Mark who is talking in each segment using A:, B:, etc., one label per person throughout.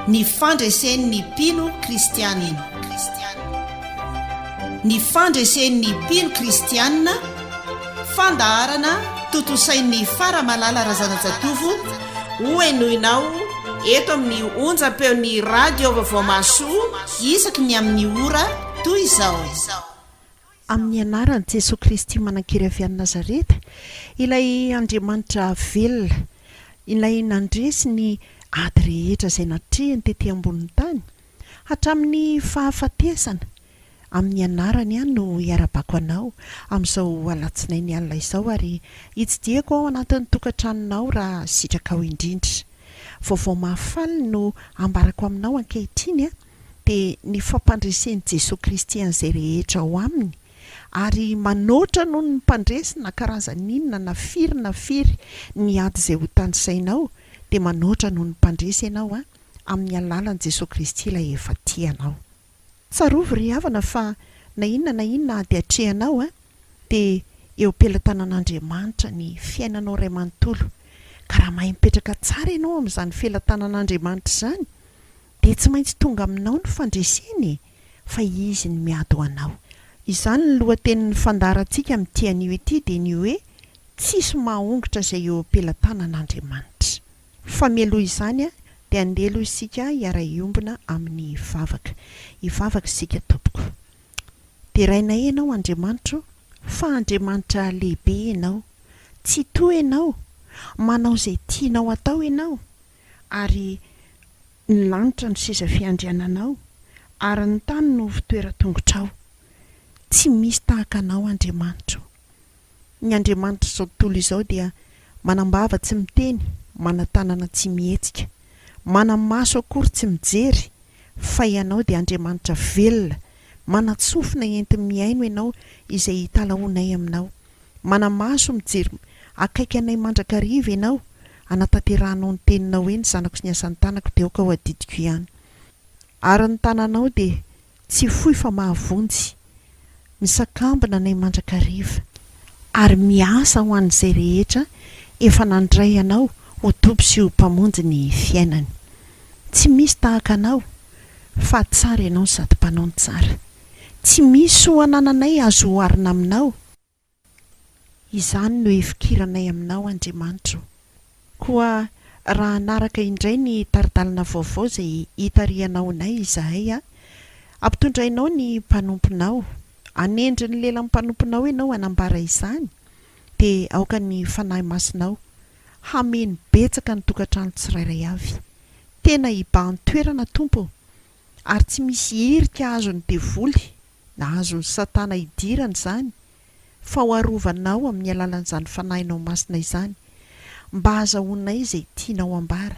A: Ny fandresen'ny mpino kristianina. Ny fandresen'ny mpino kristianina, fandaharana tontosain'ny Faramalala Razanajatovo hohenoinao eto amin'ny onjam-peon'ny Radio Vaovao Mahasoa isaky ny amin'ny ora toy izao.
B: Amin'ny anaran'i Jesoa Kristy manan-kery avy any Nazareta, ilay Andriamanitra velona, ilay nandresy ny ady rehetra izay natrehiny tety ambonin'ny tany, hatramin'ny fahafatesana, amin'ny anarany aho no iarabako anao amin'izao alatsinainy alina izao ary itsidihako ao anatin'ny tokantranonao raha sitrakao indrindra. Vaovao mahafaly no ambarako aminao ankehitriny dia ny fampandresen'i Jesoa Kristy an'izay rehetra ao Aminy, ary manoatra noho ny mpandresy na karazany inona na firy na firy ny ady izay hotanisainao, dia manoatra noho ny mpandresy ianao an, amin'ny alalan'i Jesoa Kristy Ilay efa tia anao. Tsarovy ry havana fa na inona na inona ady atrehanao an, dia eo am-pelatanan'Andriamanitra ny fiainanao iray manontolo, ka raha mahay mipetraka tsara ianao amin'izany felatanan'Andriamanitra izany, dia tsy maintsy tonga aminao ny fandresena e, fa Izy no miady ho anao. Izany ny lohatenin'ny fandaharantsika amin'ity anio ity dia ny hoe Tsisy mahaongotra izay eo am-pelatanan'Andriamanitra. Fa mialoha izany dia andeha aloha isika hiara-hiombona amin'ny vavaka. Hivavaka isika tompoko. Derainay Ianao Andriamanitra o, fa Andriamanitra lehibe Ianao. Tsitoha Ianao. Manao izay tianao hatao Ianao. ary Ny lanitra no seza fiandriananao, ary ny tany no hovitoeran-tongotrao. Tsy misy tahaka Anao, Andriamanitro. Ny Andriamanitr'izao tontolo izao dia manam-bava tsy miteny, manan-tanana tsy mihetsika, manan-maso akory tsy mijery, fa Ianao dia Andriamanitra velona, Manan-tsofina enti-mihaino ianao izay hitalahoanay aminao. Mana-maso mijery akaiky anay mandrakariva ianao hanatanterahanao ny teninao hoe ny zanako sy ny asan'ny tanako dia aoka ho adidiko ihany. Ary ny tananao dia tsy fohy fa mahavonjy. Misakambina anay mandrakariva. Ary miasa ho an'izay rehetra efa nandray anao ho Tompo sy ho Mpamonjy ny fiainany. Tsy misy tahaka anao, Fa tsara ianao sady mpanao ny tsara. Tsy misy soa anananay azo oharina aminao. Izany no hifikiranay aminao, Andriamanitra o. Koa raha hanaraka indray ny tari-dalana vaovao izay hitarihanao anay izahay, hampitondrainao ny mpanomponao, hanendry ny lelan'ny mpanomponao ianao hanambara izany, dia aoka ny Fanahy Masinao hameno betsaka ny tokantrano tsirairay avy. Tena hibahan-toerana, Tompo ô, ary tsy misy hirika azon'ny devoly na azon'i Satana hidirana izany, fa ho arovanao amin'ny alalan'izany Fanahinao Masina izany, mba hazahoanay izay tianao hambara.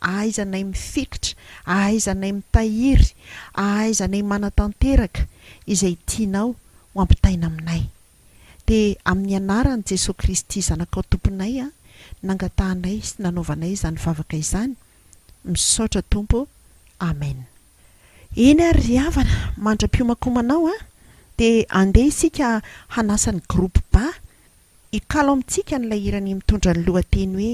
B: Ahaizanay mifikitra, ahaizanay mitahiry, ahaizanay manatanteraka izay tianao ho ampitaina aminay. dia amin'ny anaran'i Jesoa Kristy Zanakao Tomponay an nangatahanay sy nanaovanay izany vavaka izany, misaotra Tompo ô, Amen. Eny ary ry havana, mandra-piomankomanao an, dia andeha isika hanasa ny groupe ba hikalo amintsika an'ilay hiran'I mitondra ny lohateny hoe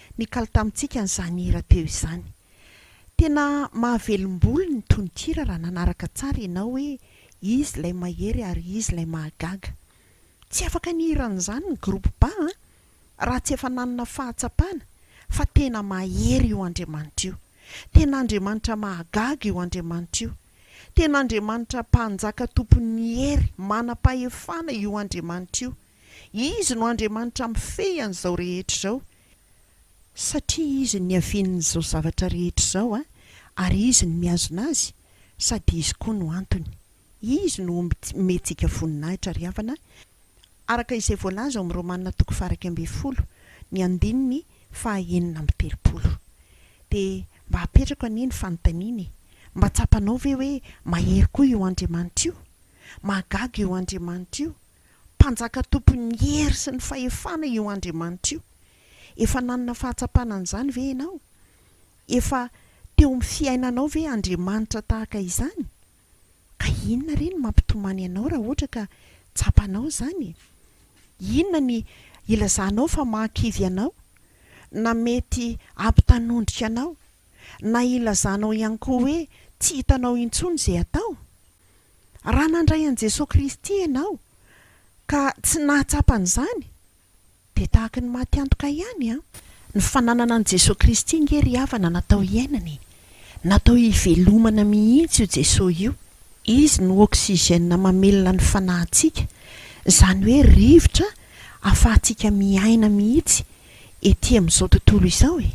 B: Nikalo tamintsika an'izany hira teo izany. Tena mahavelombolo ny tononkira raha nanaraka tsara ianao hoe izy ilay mahery ary izy ilay mahagaga. Tsy afaka nihira an'izany ny groupe Ba an, raha tsy efa nanana fahatsapana fa tena mahery io Andriamanitra io. Tena Andriamanitra mahagaga io Andriamanitra io. Tena Andriamanitra mpanjaka tompon'ny hery, manam-pahefana io Andriamanitra io. Izy no Andriamanitra mifehy an'izao rehetra izao, satria Izy no niavian'izao zavatra rehetra izao, ary Izy no mihazona azy, sady Izy koa no antony. Izy no omentsika voninahitra ry havana, araka izay voalaza ao amin'ny Romana toko faha-iraika ambin'ny folo, ny andininy faha-enina amby telopolo. Dia mba apetrako anie ny fanontaniana e! Mba tsapanao ve hoe mahery koa io Andriamanitra io? Mahagaga io Andriamanitra io! Mpanjaka tompon'ny hery sy ny fahefana io Andriamanitra io. Efa nanana fahatsapana an'izany ve ianao? Efa teo amin'ny fiainanao ve Andriamanitra tahaka izany? Ka inona re no mampitomany anao raha ohatra ka tsapanao izany e? Inona ny ilazanao fa mahakivy anao, na mety hampitanondrika anao? na ilazanao ihany koa hoe tsy hitanao intsony izay atao? Raha nandray an'i Jesoa Kristy ianao ka tsy nahatsapa an'izany dia tahaka ny maty antoka ihany an! Ny fananana an'i Jesoa Kristy nge ry havana natao hiainana e! Natao hivelomana mihitsy io Jesoa io! Izy no oxygène mamelona ny fanahintsika, izany hoe rivotra afahantsika miaina mihitsy ety amin'izao tontolo izao e!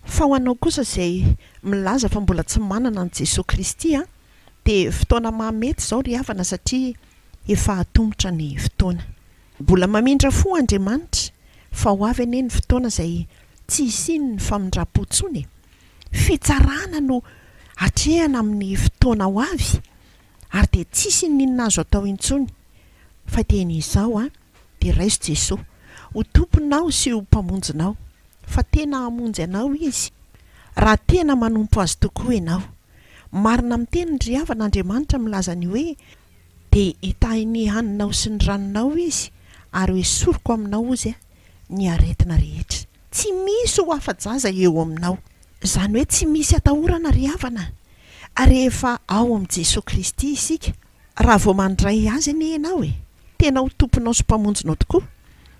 B: Fa ho anao kosa izay milaza fa mbola tsy manana an'i Jesoa Kristy an, dia fotoana mahamety izao ry havana satria efa hatomotra ny fotoana. Mbola mamindra fo Andriamanitra fa ho avy anie ny fotoana izay tsy hisian'ny famindram-po tsony e! Fitsarana no hatrehana amin'ny fotoana ho avy ary dia tsisy ininona azo atao intsony fa dia ny izao an, dia raiso Jesoa ho Tomponao sy ho Mpamonjinao fa tena hamonjy anao Izy, raha tena manompo Azy tokoa ianao. Marina amin'ny teniny ry havana, Andriamanitra milaza ny hoe, Dia hitahy ny haninao sy ny ranonao Izy, ary hoesoriko aminao hozy ny aretina rehetra. Tsy misy ho afa-jaza eo aminao. Izany hoe tsy misy atahorana ry havana, rehefa ao amin'i Jesoa Kristy isika. Raha vao mandray Azy anie ianao e, tena ho Tomponao sy Mpamonjinao tokoa,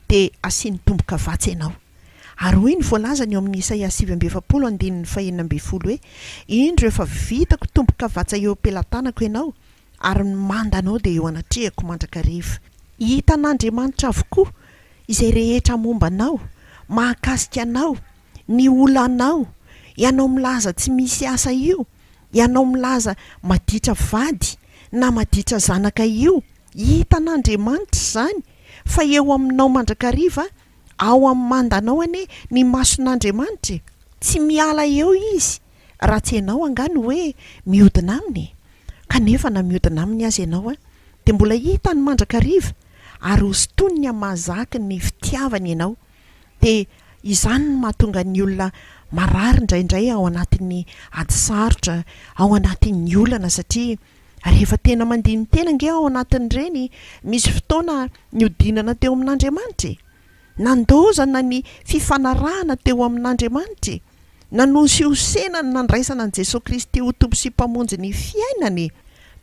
B: dia asiany tomboka vatsy ianao. Ary hoy ny voalazany eo amin'ny Isaia sivy amby efapolo andininy fahenina ambin'ny folo hoe, Indro efa vitako tomboka vatsa eo am-pelatanako ianao, ary ny mandanao dia eo anatrehako mandrakariva. Hitan'Andriamanitra avokoa izay rehetra momba anao, mahakasika anao, ny olanao, ianao milaza tsy misy asa io, Ianao milaza maditra vady na maditra zanaka io, hitan'Andriamanitra izany fa eo aminao mandrakariva ao amin'ny mandanao anie ny mason'Andriamanitra e! Tsy miala eo Izy raha tsy ianao angaha no hoe mihodina Aminy e! Kanefa na mihodina Aminy aza ianao an! dia mbola hitany mandrakariva ary hosintoniny amin'ny maha zaky ny fitiavany ianao. dia izany no mahatonga ny olona marary indraindray ao anatin'ny ady sarotra, ao anatin'ny olana satria rehefa tena mandini-tena ange ao anatin'ireny, misy fotoana nihodinana teo amin'Andriamanitra e! Nandaozana ny fifanarahana teo amin'Andriamanitra e! Nanosihosena ny nandraisana an'i Jesoa Kristy ho Tompo sy Mpamonjy ny fiainana e!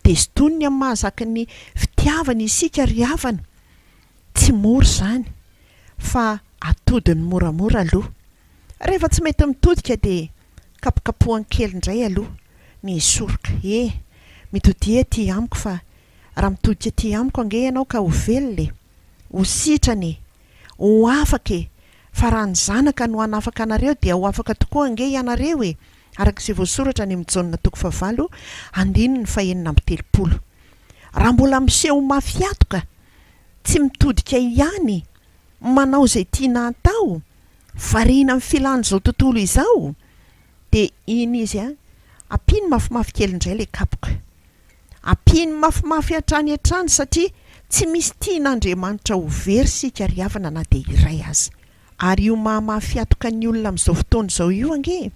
B: Dia sintoniny amin'ny maha zaky ny fitiavany isika ry havana. Tsy mora izany fa atodiny moramora aloha. Rehefa tsy mety mitodika dia kapokapohany kely indray aloha ny hisoroka. He, mitodia ety amiko fa raha mitodika ety amiko ange ianao ka ho velona e! Ho sitrana e! Ho afaka e! Fa raha ny Zanaka no hanafaka anareo dia ho afaka tokoa ange ianareo e! araka izay voasoratra any amin'ny Jaona toko fahavalo andininy fahenina amby telopolo. Raha mbola miseho ho mafy hatoka tsy mitodika ihany manao izay tiana atao, variana amin'ny filan'izao tontolo izao, dia iny izy an, ampiany mafimafy kely indray ilay kapoka. Ampiany mafimafy hatrany hatrany satria tsy misy tian'Andriamanitra ho very isika ry havana na dia iray aza. Ary io maha mahafihatoka ny olona amin'izao fotoana izao io ange e!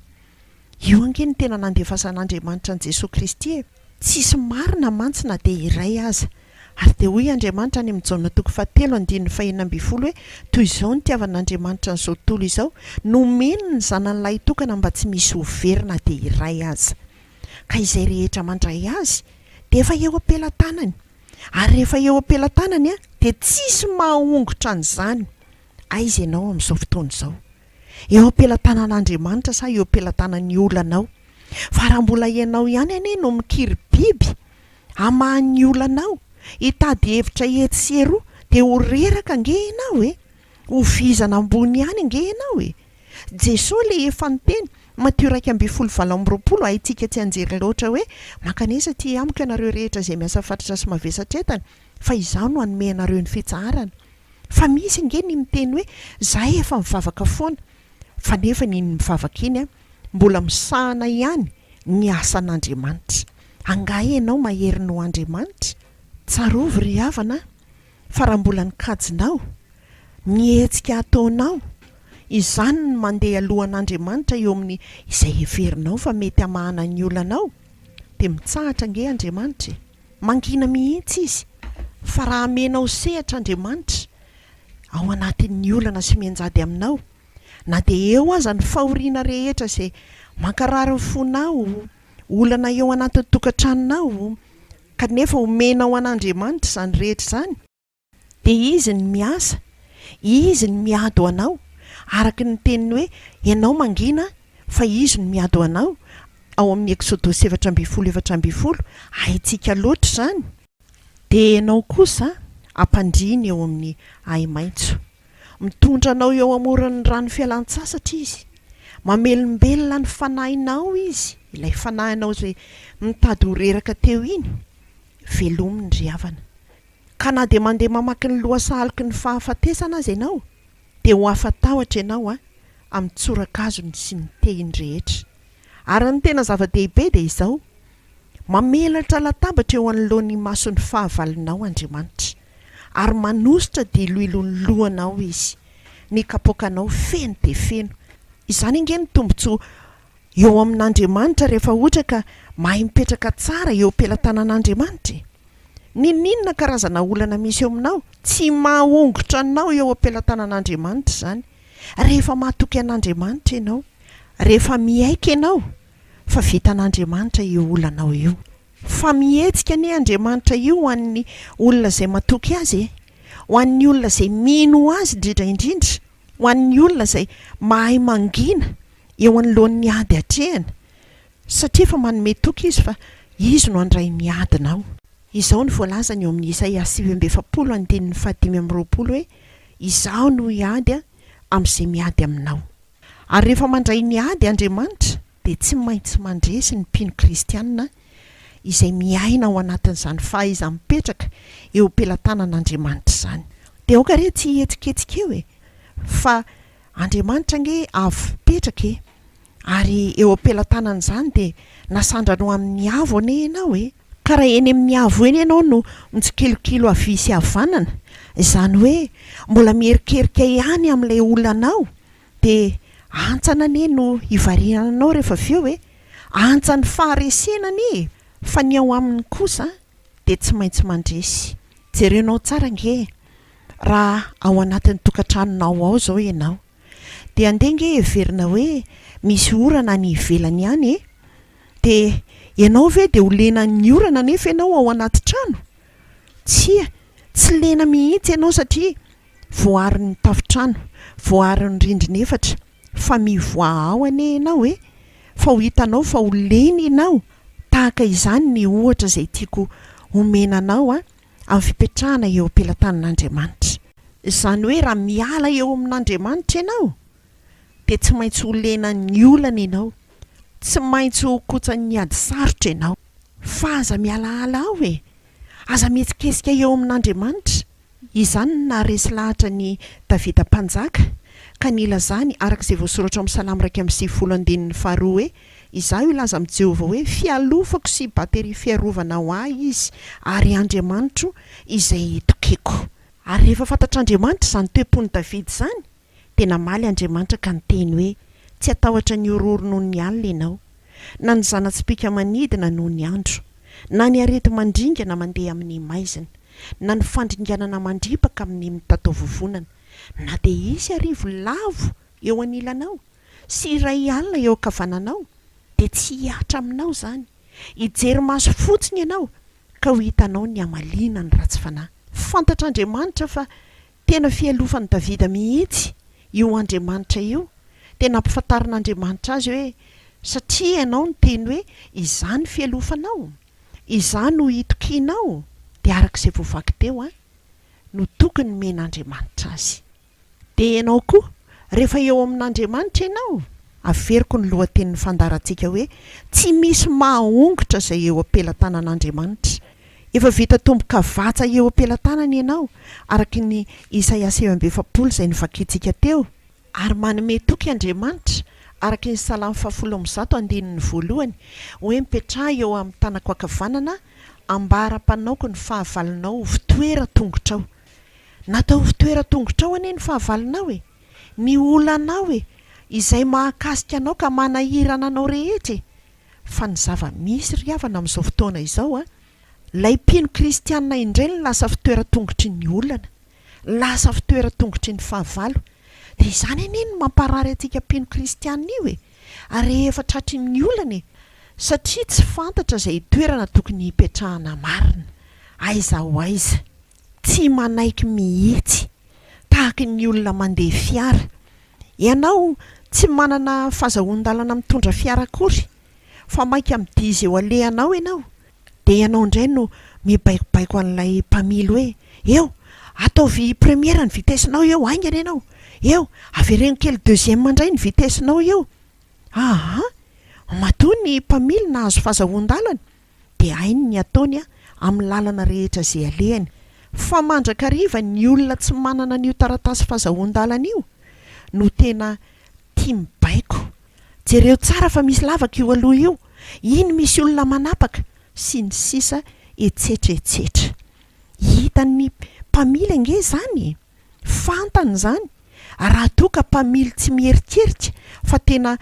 B: Io ange no tena nandefasan'Andriamanitra an'i Jesoa Kristy e! Tsisy marina mantsy na dia iray aza. Ary dia hoy Andriamanitra any amin'ny Jaona toko fahatelo andininy fahenina ambin'ny folo hoe, Toy izao no itiavan'Andriamanitra an'izao tontolo izao, nomeny ny Zanany Lahitokana mba tsy misy ho very na dia iray aza. Ka izay rehetra mandray Azy dia efa eo am-pelatanany. Ary rehefa eo am-pelatanany dia tsisy mahahongotra an'izany. Aiza ianao amin'izao fotoana izao? eo am-pelatanan'Andriamanitra sa eo am-pelatanan'ny olanao? Fa raha mbola ianao ihany anie no mikiribiby hamaha ny olanao, hitady hevitra etsy sy eroa, dia ho reraka ange ianao e! Ho vizana ambony ihany ange ianao e! Jesoa ilay efa niteny, Matio iraika ambin'ny folo valo amby roapolo, Haintsika tsy hianjera loatra hoe, Mankanesa aty amiko ianareo rehetra izay miasa fatratra sy mavesatra entana, fa Izaho no hanome anareo ny fitsaharana. Fa misy ange ny miteny hoe zahay efa mivavaka foana fa nefa ny iny mivavaka iny an, mbola misahana ihany ny asan'Andriamanitra. Angaha ianao mahery noho Andriamanitra? Tsarovy ry havana an, fa raha mbola ny kajinao, ny hetsika ataonao, izany no mandeha alohan'Andriamanitra eo amin'ny izay heverinao fa mety hamahana ny olanao dia mitsahatra ange Andriamanitra e! Mangina mihitsy izy fa raha amenao sehatra Andriamanitra ao anatin'ny olana sy mianjady aminao, na dia eo aza ny fahoriana rehetra izay mankarary ny fonao, olana eo anatin'ny tokantranonao, kanefa omenao an'Andriamanitra izany rehetra izany, Dia Izy no miasa, Izy no miady ho anao, araka ny teniny hoe, Ianao mangina fa Izy no miady ho anao, ao amin'ny Eksodosy efatra ambin'ny folo efatra ambin'ny folo, haintsika loatra izany, dia Ianao kosa hampandriany eo amin'ny ahi-maitso, mitondra anao eo amoron'ny rano fialan-tsasatra Izy, mamelombelona ny fanahinao Izy, ilay fanahinao izay mitady ho reraka teo iny, velomin'ny ry havana. Ka na dia mandeha mamaky ny lohasahalok' ny fahafatesana aza ianao, dia ho afa-tahotra ianao amin'ny tsorakazony sy ny tehiny rehetra. Ary ny tena zava-dehibe dia izao, Mamelatra latabatra eo anoloan' imason'ny fahavalonao Andriamanitra, ary manositra diloilon'ny lohanao Izy, ny kapoakanao feno dia feno. Izany ange no tombontsoa eo amin'Andriamanitra rehefa ohatra ka mahay mipetraka tsara eo am-pelatanan'Andriamanitra e! Ninoninona karazana olana misy eo aminao? Tsy mahongotra anao eo am-pelatanan'Andriamanitra izany rehefa mahatoky an'Andriamanitra ianao, rehefa miaiky ianao fa vitan'Andriamanitra io olanao io. Fa mihetsika anie Andriamanitra io ho an'ny olona izay matoky Azy e! Ho an'ny olona izay mino Azy indrindra indrindra, ho an'ny olona izay mahay mangina, eo anoloan'ny ady atrehina, satria efa manome toky Izy fa Izy no handray ny adinao. Izao no voalazany eo amin'ny Isaia sivy amby efapolo andininy fahadimy amby roapolo hoe, Izaho no hiady amin'izay miady aminao. Ary rehefa mandray ny ady Andriamanitra, dia tsy maintsy mandresy ny mpino kristiana izay miaina ao anatin'izany fahaiza-mipetraka eo am-pelatanan'Andriamanitra izany. Dia aoka re tsy hihetsiketsika eo e, fa Andriamanitra ange avo mipetraka e! Ary eo am-pelatanan'izany dia nasandrano amin'ny avo anie ianao e! Ka raha eny amin'ny avo eny ianao no mitsikilikilo havia sy havanana, izany hoe mbola miherikerika ihany amin'ilay olanao, dia antsana anie no hivariana anao rehefa avy eo e! Antsan'ny faharesena anie e! Fa ny ao aminy kosa dia tsy maintsy mandresy. Jerenao tsara ange e! Raha ao anatin'ny tokantranonao ao izao ianao, dia andeha ange heverina hoe misy orana any ivelany ihany e! Dia ianao ve dia ho lena amin'ny orana nefa ianao ao anaty trano? Tsia, tsy lena mihitsy ianao satria voaron'ny tafontrano, voaron'ny rindrina efatra, fa mivoaha ao anie ianao e! Fa ho hitanao fa ho lena ianao, tahaka izany ny ohatra izay tiako homena anao an! amin'ny fipetrahana eo am-pelatanan'Andriamanitra. Izany hoe raha miala eo amin'Andriamanitra ianao dia tsy maintsy ho lenan'ny olana ianao, tsy maintsy ho kotsan'ny ady sarotra ianao. Fa aza mihalahala aho e! Aza mihetsiketsika eo amin'Andriamanitra! Izany no naharesy lahatra an'i Davida Mpanjaka ka nilazany araka izay voasoratra ao amin'ny Salamo iraika amby sivifolo andininy faharoa hoe. Izaho hilaza amin'i Jehovah hoe fialofako sy batterie fiarovana ho ahy izy, ary Andriamanitro izay itokiko. Ary rehefa fantatr'Andriamanitra izany toe-pon'i Davida izany, dia namaly Andriamanitra ka niteny hoe, Tsy hatahotra ny horohoro noho ny alina ianao, na ny zana-tsipìka manidina noho ny andro, na ny areti-mandringana mandeha amin'ny maizina, na ny fandringanana mandripaka amin'ny mitatao vovonana, na dia hisy arivo lavo eo anilanao, sy iray alina eo ankavananao dia tsy hihatra aminao izany, hijery maso fotsiny ianao ka ho hitanao ny hamaliana ny ratsy fanahy. Fantatr'Andriamanitra fa tena fialofan'i Davida mihitsy io Andriamanitra io, dia nampifantarin'Andriamanitra azy hoe, Satria ianao niteny hoe, Izaho no fialofanao, Izaho no hitokianao, dia araka izay voavaky teo, no tokony nomen'Andriamanitra azy. Dia ianao koa, rehefa eo amin'Andriamanitra ianao, averiko ny lohatenin'ny fandaharantsika hoe, Tsy misy mahahongotra izay eo am-pelatanan'Andriamanitra. Efa vita tombokavatsa eo am-pelatanany ianao, araka ny Isaia sivy amby efapolo izay novakintsika teo, ary manome toky Andriamanitra, araka ny Salamo fahafolo amby zato andininy voalohany, hoe, Mipetraha eo amin'ny tanako ankavanana, ambara-panaoko ny fahavalonao ho fitoeran-tongotrao. Natao ho fitoeran-tongotrao anie ny fahavalonao e! Ny olanao e! Izay mahakasika anao ka manahirana anao rehetra e! Fa ny zava-misy ry havana amin'izao fotoana izao an! Ilay mpino kristianina indray no lasa fitoeran-tongotry ny olana, lasa fitoeran-tongotry ny fahavalo. Dia izany anie no mamparary antsika mpino kristianina io e! Ary rehefa tratry ny olana e! Satria tsy fantatra izay toerana tokony hipetrahana marina. Aiza ho aiza. Tsy manaiky mihitsy. Tahaka ny olona mandeha fiara. Ianao tsy manana fazahoan-dalana mitondra fiara akory, fa maika midiza eo alehanao ianao. Dia ianao indray no mibaikobaiko an'ilay mpamily hoe, Eo! Ataovy première ny vitesse-nao eo, haingana ianao! Eo! Avereno kely deuxième indray ny vitesse-nao eo! Aa! Matoa ny mpamily nahazo fazahoan-dalana dia hainy ny ataony amin'ny lalana rehetra izay alehany. Fa mandrakariva ny olona tsy manana an'io taratasy fazahoan-dalana io no tena Tia mibaiko. Jereo tsara fa misy lavaka io aloha io, iny misy olona manapaka, sy ny sisa Etsetra etsetra. Hitan'ny mpamily ange izany e! Fantany izany, raha toa ka mpamily tsy mieritreritra fa tena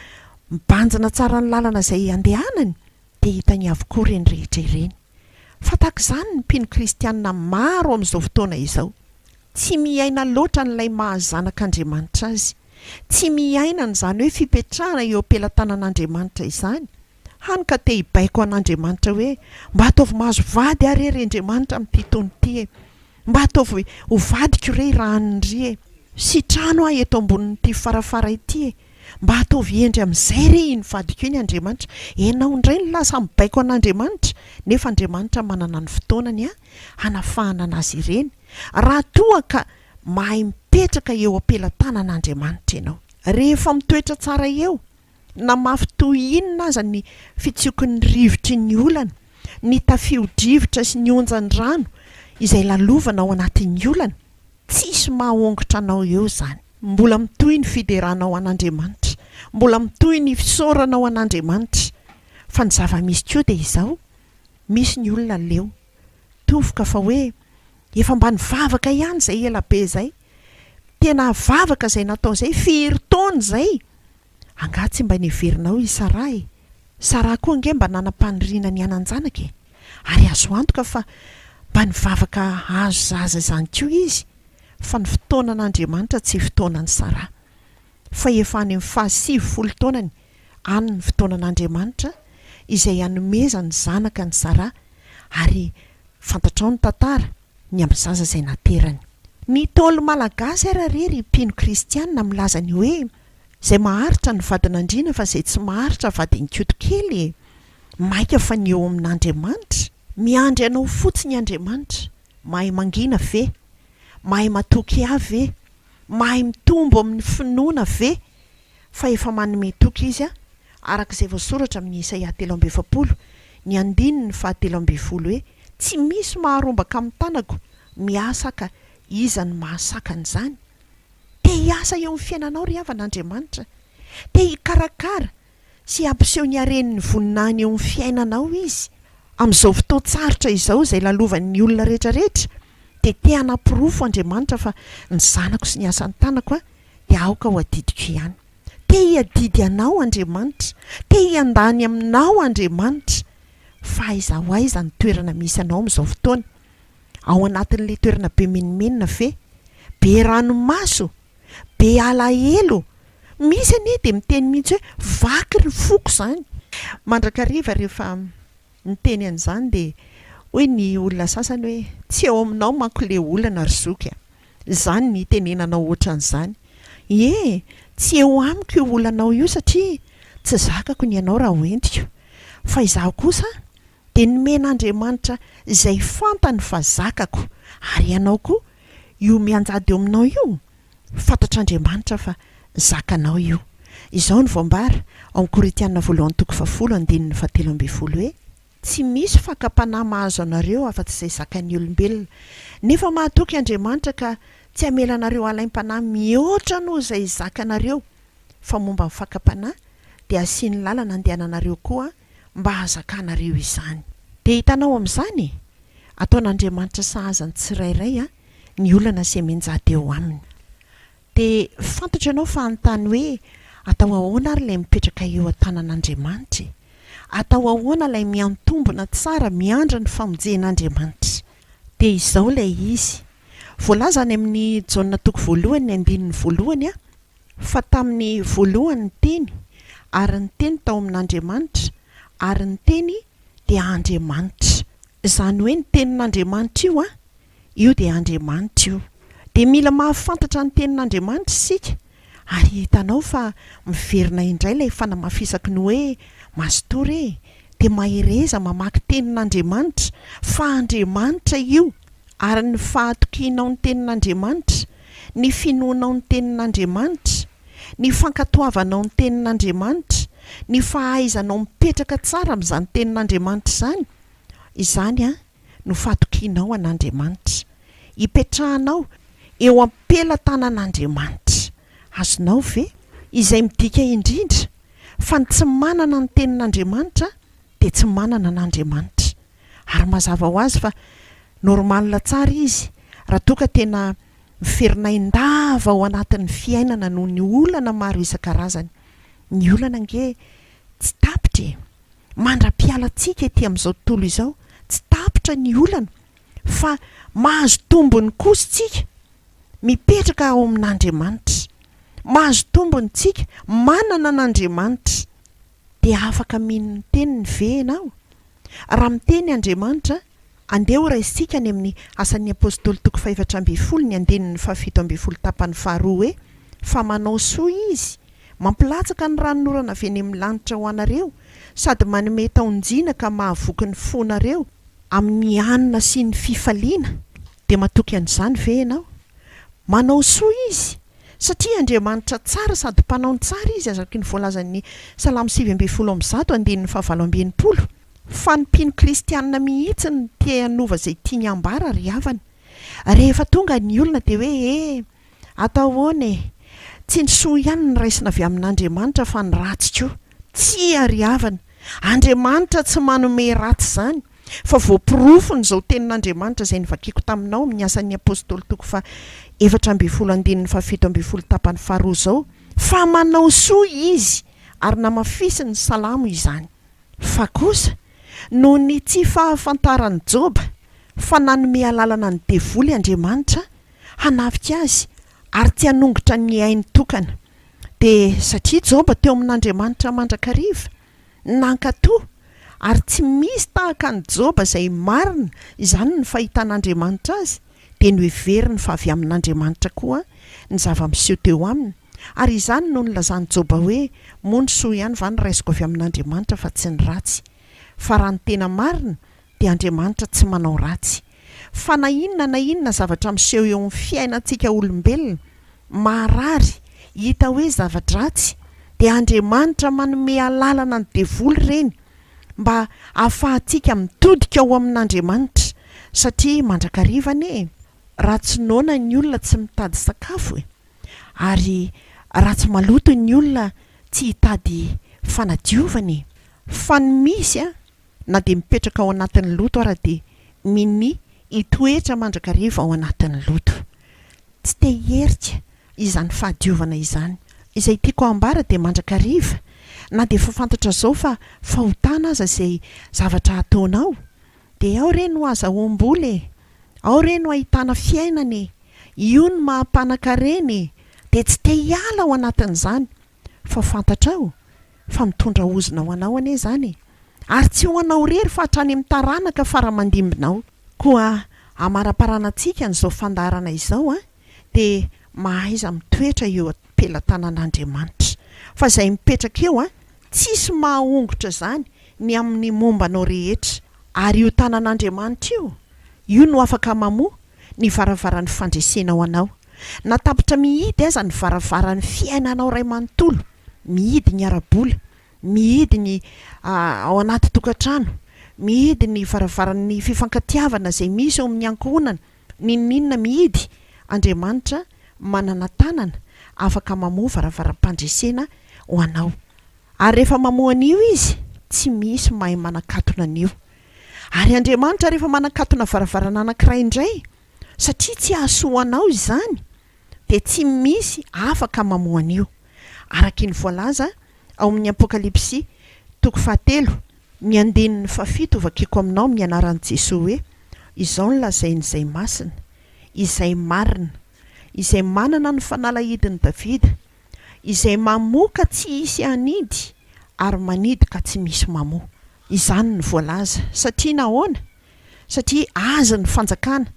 B: mibanjina tsara ny lalana izay andehanany dia hitany avokoa ireny rehetra ireny. Fa tahaka izany ny mpino kristianina maro amin'izao fotoana izao. Tsy miaina loatra an'ilay maha-zanak' Andriamanitra azy. Tsy miaina an'izany hoe fipetrahana eo am-pelatanana Andriamanitra izany, hany ka te-hibaiko an'Andriamanitra hoe, Mba ataovy mahazo vady aho re ry Andriamanitra amin'ity taona ity e! Mba ataovy ho vadiko re i Rahanindry e! Sitrano aho eto ambonin'ity farafara ity e! Mba ataovy hendry amin'izay re iny vadiko iny Andriamanitra! Ianao indray no lasa mibaiko an'Andriamanitra nefa Andriamanitra manana ny fotoanany hanafahana an'azy ireny raha toa ka mahay mipetraka eo am-pelatanan'Andriamanitra ianao. Rehefa mitoetra tsara eo na mafy toy inona aza ny fitsioky ny rivotry ny olana, ny tafio-drivotra sy ny onjan'ny rano izay lalovana ao anatin'ny olana, tsisy maha-hongotra anao eo izany. Mbola mitohy ny fideranao an'Andriamanitra, mbola mitohy ny fisaoranao an'Andriamanitra, fa ny zava-misy koa dia izao, misy ny olona leo, tofoka fa hoe, efa mba nivavaka ihany izay ela be izay, tena vavaka izay natao izay, firy taona izay, Angaha tsy mba neverinao i Saraha e? Saraha koa ange mba nanam-paniriana ny hanan-janaka e! Ary azo antoka fa mba nivavaka hahazo zaza izany koa izy, fa ny fotoanan'Andriamanitra tsy fotoanan'i Saraha. Fa efa any amin'ny fahasivifolo taonany any ny fotoanan'Andriamanitra izay hanomezany zanaka an'i Saraha, ary fantatrao ny tantara, ny amin'ny zaza izay naterany. Ny Ntaolo malagasy ary re ry mpino kristianina milaza ny hoe izay maharitra ny vadin'andriana fa izay tsy maharitra vadin-koto kely e! Maika fa ny eo amin'Andriamanitra? Miandry anao fotsiny Andriamanitra! Mahay mangina ve? Mahay matoky ahy ve? Mahay mitombo amin'ny finoana ve? Fa efa manome toky izy, araka izay voasoratra amin' i Isaia telo amby efapolo, ny andininy fahatelo ambin'ny folo hoe, Tsy misy maharombaka amin'ny tanako miasa ka iza no mahasakana izany? Te hiasa eo amin'ny fiainanao ry havana Andriamanitra. Te hikarakara sy hampiseho ny hareny ny voninahiny eo amin'ny fiainanao Izy. Amin'izao fotoan-tsarotra izao izay lalovan'ny olona rehetrarehetra dia te hanaporofo Andriamanitra fa ny zanako sy ny asan'ny tanako dia aoka ho adidiko ihany. Te hiadidy Anao, Andriamanitra. Te hiandany Aminao, Andriamanitra. Fa aiza ho aiza ny toerana misy Anao amin'izao fotoana? Ao anatin'ilay toerana be menomenona ve? Be ranomaso? Be alahelo? Misy anie dia miteny mihitsy hoe, vaky ny foko izany. Mandrakariva rehefa miteny an'izany dia hoy ny olona sasany hoe, tsy eo aminao manko ilay olana ry zoky a! Izany ny itenenanao ohatran'izany. Ie, tsy eo amiko io olanao io satria tsy zakako ny anao raha hoentiko. Fa izaho kosa dia nomen'Andriamanitra izay fantany fa zakako, ary ianao koa, io mianjady eo aminao io, fantatr'Andriamanitra fa zakanao io. Izao no voambara ao amin'ny Korintiana voalohany toko fahafolo, andininy fahatelo ambin'ny folo hoe. Tsy misy fakam-panahy mahazo anareo afa-tsy izay zakan'ny olombelona. Nefa mahatoky Andriamanitra ka tsy hamela anareo halaim-panahy mihoatra noho izay zakanareo, fa momba ny fakam-panahy dia hasiany lalana handehananareo koa mba hahazakanareo izany. Dia hitanao amin'izany e! Ataon'Andriamanitra sahaza ny tsirairay ny olana semenjady eo aminy. Dia fantatro ianao fa hanontany hoe, Atao ahoana ary ilay mipetraka eo an-tanan'Andriamanitra e? Atao ahoana ilay miantombona tsara miandry ny famonjen'Andriamanitra? Dia izao ilay izy. Voalaza any amin'ny Jaona toko voalohany ny andininy voalohany a, fa tamin'ny voalohany ny Teny, ary ny Teny tao amin'Andriamanitra, ary ny Teny dia Andriamanitra. Izany hoe ny Tenin'Andriamanitra io an! Io dia Andriamanitra io. Dia mila mahafantatra ny Tenin'Andriamanitra isika, ary hitanao fa miverina indray ilay fanamafisaky ny hoe, Mazotoa re, dia mahereza mamaky Tenin'Andriamanitra, fa Andriamanitra io, ary ny fahatokianao ny Tenin'Andriamanitra, ny finoanao ny Tenin'Andriamanitra, ny fankatoavanao ny Tenin'Andriamanitra, ny fahaizanao mipetraka tsara amin'izany Tenin'Andriamanitra izany, izany an, no fatokianao an'Andriamanitra, ipetrahanao eo am-pelatanan'Andriamanitra. Azonao ve? Izay midika indrindra fa ny tsy manana ny Tenin'Andriamanitra dia tsy manana an'Andriamanitra. Ary mazava ho azy fa normal tsara izy raha toa ka tena miferinain-dava ao anatin'ny fiainana noho ny olana maro isan-karazany. Ny olana ange tsy tapitra e! mandra-piala antsika ety amin'izao tontolo izao, tsy tapitra ny olana fa mahazo tombony kosa isika mipetraka ao amin'Andriamanitra. Mahazo tombony tsika manana an'Andriamanitra. Dia afaka mino ny teniny ve ianao? Raha miteny Andriamanitra Andeha ho raisintsika any amin'ny Asan'ny Apostoly toko fahefatra ambin'ny folo ny andininy fahafito ambin'ny folo tapany faharoa hoe, Fa manao soa Izy, mampilatsaka ny ranon'orana avy eny amin'ny lanitra ho anareo, sady manome taon-jina ka mahavoky ny fonareo, amin'ny hanina sy ny fifaliana, dia matoky an'izany ve ianao? Manao soa Izy, satria Andriamanitra tsara sady mpanao ny tsara Izy araka ny voalazan'ny Salamo sivy ambin'ny folo amby zato andininy fahavalo amby enimpolo. Fa ny mpino kristianina mihitsy no te hanova izay tiany hambara ry havana. Rehefa tonga ny olona dia hoe he, atao ahoana e? Tsy ny soa ihany no raisina avy amin'Andriamanitra fa ny ratsy koa. Tsia ry havana, Andriamanitra tsy manome ratsy izany, fa voaporofon'izao tenin'Andriamanitra izay novakiko taminao amin'ny Asan'ny Apostoly toko faha efatra ambin'ny folo andininy faha fito ambin'ny folo tapany faharoa izao fa manao soa Izy ary namafisiny ny Salamo izany. Fa kosa, noho ny tsy fahafantaran'i Joba fa nanome alalana ny devoly Andriamanitra hanafika azy ary tsy hanongotra ny ainy tokana, dia satria Joba teo amin'Andriamanitra mandrakariva, nankatò, ary tsy misy tahaka an'i Joba izay marina izany ny fahitan'Andriamanitra azy, dia noheveriny fa avy amin'Andriamanitra koa ny zava-miseho teo aminy. Ary izany no nilazan'i Joba hoe, Moa ny soa ihany va no raisiko avy amin'Andriamanitra fa tsy ny ratsy? Fa raha ny tena marina, dia Andriamanitra tsy manao ratsy. Fa na inona na inona zavatra miseho eo amin'ny fiainantsika olombelona, maharary, hita hoe zava-dratsy, dia Andriamanitra manome alalana ny devoly ireny mba hahafahantsika mitodika ao amin'Andriamanitra, satria mandrakariva anie e! raha tsy noana ny olona tsy mitady sakafo e! Ary raha tsy maloto ny olona tsy hitady fanadiovana e! Fa ny misy a! Na dia mipetraka ao anatin'ny loto ara dia mini hitoetra mandrakariva ao anatin'ny loto. Tsy te hierika izany fahadiovana izany. Izay tiako hambara dia mandrakariva na dia efa fantatra zao fa fahotana aza izay zavatra ataonao Dia ao re no azahoam-bola e! Ao re no ahitana fiainana e! Io no maha mpanan-karena e! Dia tsy te hiala ao anatin'izany! Fa fantatrao? Fa mitondra ozona ho anao anie izany e! Ary tsy ho anao irery fa hatrany amin'ny taranaka fara-mandimbinao! Koa amaraparanantsika an'izao fandaharana izao an! dia mahaiza mitoetra eo am-pelatanan'Andriamanitra. Fa izay mipetraka eo an, tsisy mahahongotra izany ny amin'ny momba anao rehetra. Ary io tanan'Andriamanitra io, io no afaka mamoha ny varavaran'ny fandresena ho anao. Na tapitra mihidy aza ny varavaran'ny fiainanao iray manontolo, mihidy ny ara-bola, mihidy ny ao anaty tokantrano, mihidy ny varavaran'ny fifankatiavana izay misy eo amin'ny ankohonana, N'inon'inona mihidy, Andriamanitra manana tanana afaka mamoha varavaram-pandresena ho anao. Ary rehefa mamoha an'io Izy, tsy misy mahay manakatona an'io. Ary Andriamanitra rehefa manakatona varavarana anankiray indray, satria tsy hahasoa anao izany, dia tsy misy afaka mamoha an'io. Araky ny voalaza ao amin'ny Apokalypsy toko fahatelo. Ny andininy fahafito ho vakiako aminao amin'ny anaran'i Jesoa hoe, Izao no lazain'izay masina, izay marina, izay manana ny fanalahidin'i Davida, izay mamoa ka tsy hisy hanidy ary manidy ka tsy misy mamoa. Izany no voalaza. Satria nahoana? Satria Azy ny fanjakana,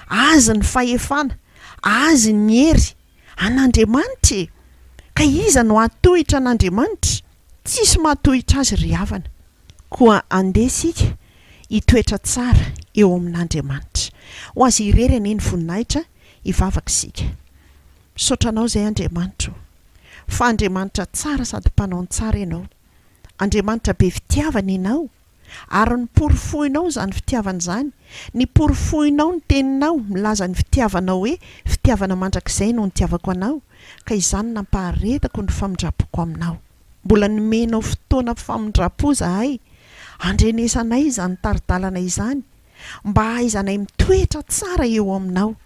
B: Azy ny fahefana, Azy ny hery, an'Andriamanitra e! Ka iza no hahatohitra an'Andriamanitra? Tsisy mahatohitra Azy ry havana. Koa andeha isika hitoetra tsara eo amin'Andriamanitra. Ho Azy irery anie ny voninahitra, hivavaka isika. Misaotra Anao izay Andriamanitra o! Fa Andriamanitra tsara sady Mpanao ny tsara Ianao. Andriamanitra be fitiavana Ianao. Ary noporofoinao izany fitiavana izany, niporofoinao ny Teninao milaza ny fitiavanao hoe fitiavana mandrakizay no nitiavako Anao, ka izany nampaharetako ny famindrampoko Aminao. Mbola nomenao fotoana famindrampo izahay, andrenesanay izany tari-dalana izany, mba hahaizanay mitoetra tsara eo Aminao.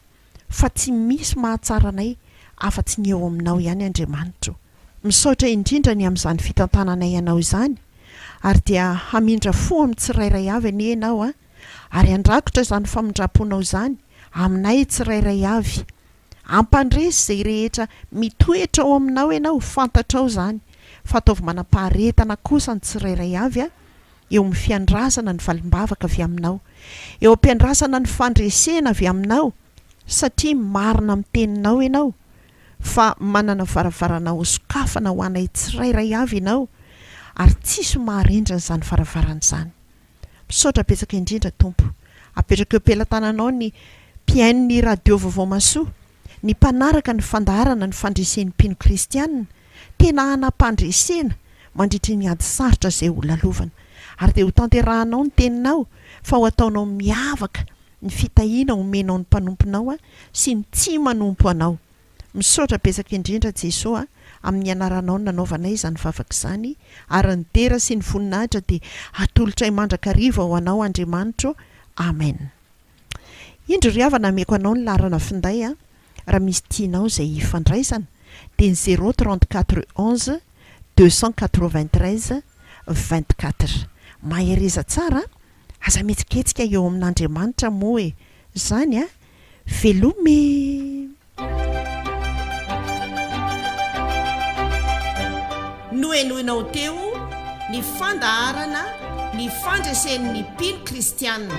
B: fa tsy misy mahatsara anay afa-tsy ny eo aminao ihany Andriamanitro. Misaotra indrindra ny amin'izany fitantananay anao izany ary dia hamindra fo amin'ny tsirairay avy anie ianao a! ary handrakotra izany famindram-ponao izany aminay tsirairay avy. Ampandresy izay rehetra mitoetra ao aminao ianao ho fantatrao izany. Fataovy manam-paharetana kosa ny tsirairay avy a! eo amin'ny fiandrasana ny valim-bavaka avy aminao, eo am-piandrasana ny fandresena avy aminao, satria marina amin'ny teninao ianao, fa manana varavarana hosokafana ho anay tsirairay avy ianao, ary tsisy maharindra izany varavarana izany. Misaotra betsaka indrindra, Tompo. Apetrako eo am-pelatananao ny mpihaino ny Radio Vaovao Mahasoa. ny mpanaraka ny fandaharana ny fandresen'ny mpino kristiana tena hanam-pandresena mandritry ny ady sarotra izay ho lalovana. Ary dia hotanterahanao ny teninao fa ho ataonao miavaka ny fitahiana omenao ny mpanomponao sy ny tsy manompo anao. Misaotra betsaka indrindra Jesoa amin'ny anaranao nanaovanay izany vavaka izany ary ny dera sy ny voninahitra dia hatolotray mandrakariva ho anao Andriamanitro. Amen. Indro ry havana ameko anao ny laharana finday a, raha misy tianao izay hifandraisana dia ny zéro trente quatre onze deux cent quatre vingt treize vingt quatre. Mahereza tsara a, aza mihetsiketsika eo amin'Andriamanitra moa e, zany a, veloma e.
A: Nohenoinao teo ny fandaharana Ny Fandresen'ny Mpino Kristianina.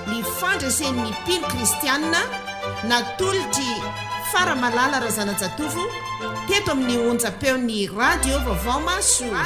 A: Ny Fandresen'ny Mpino Kristianina natolotr'i Faramalala Razanajatovo teto amin'ny onjam-peon'ny Radio Vaovao Mahasoa.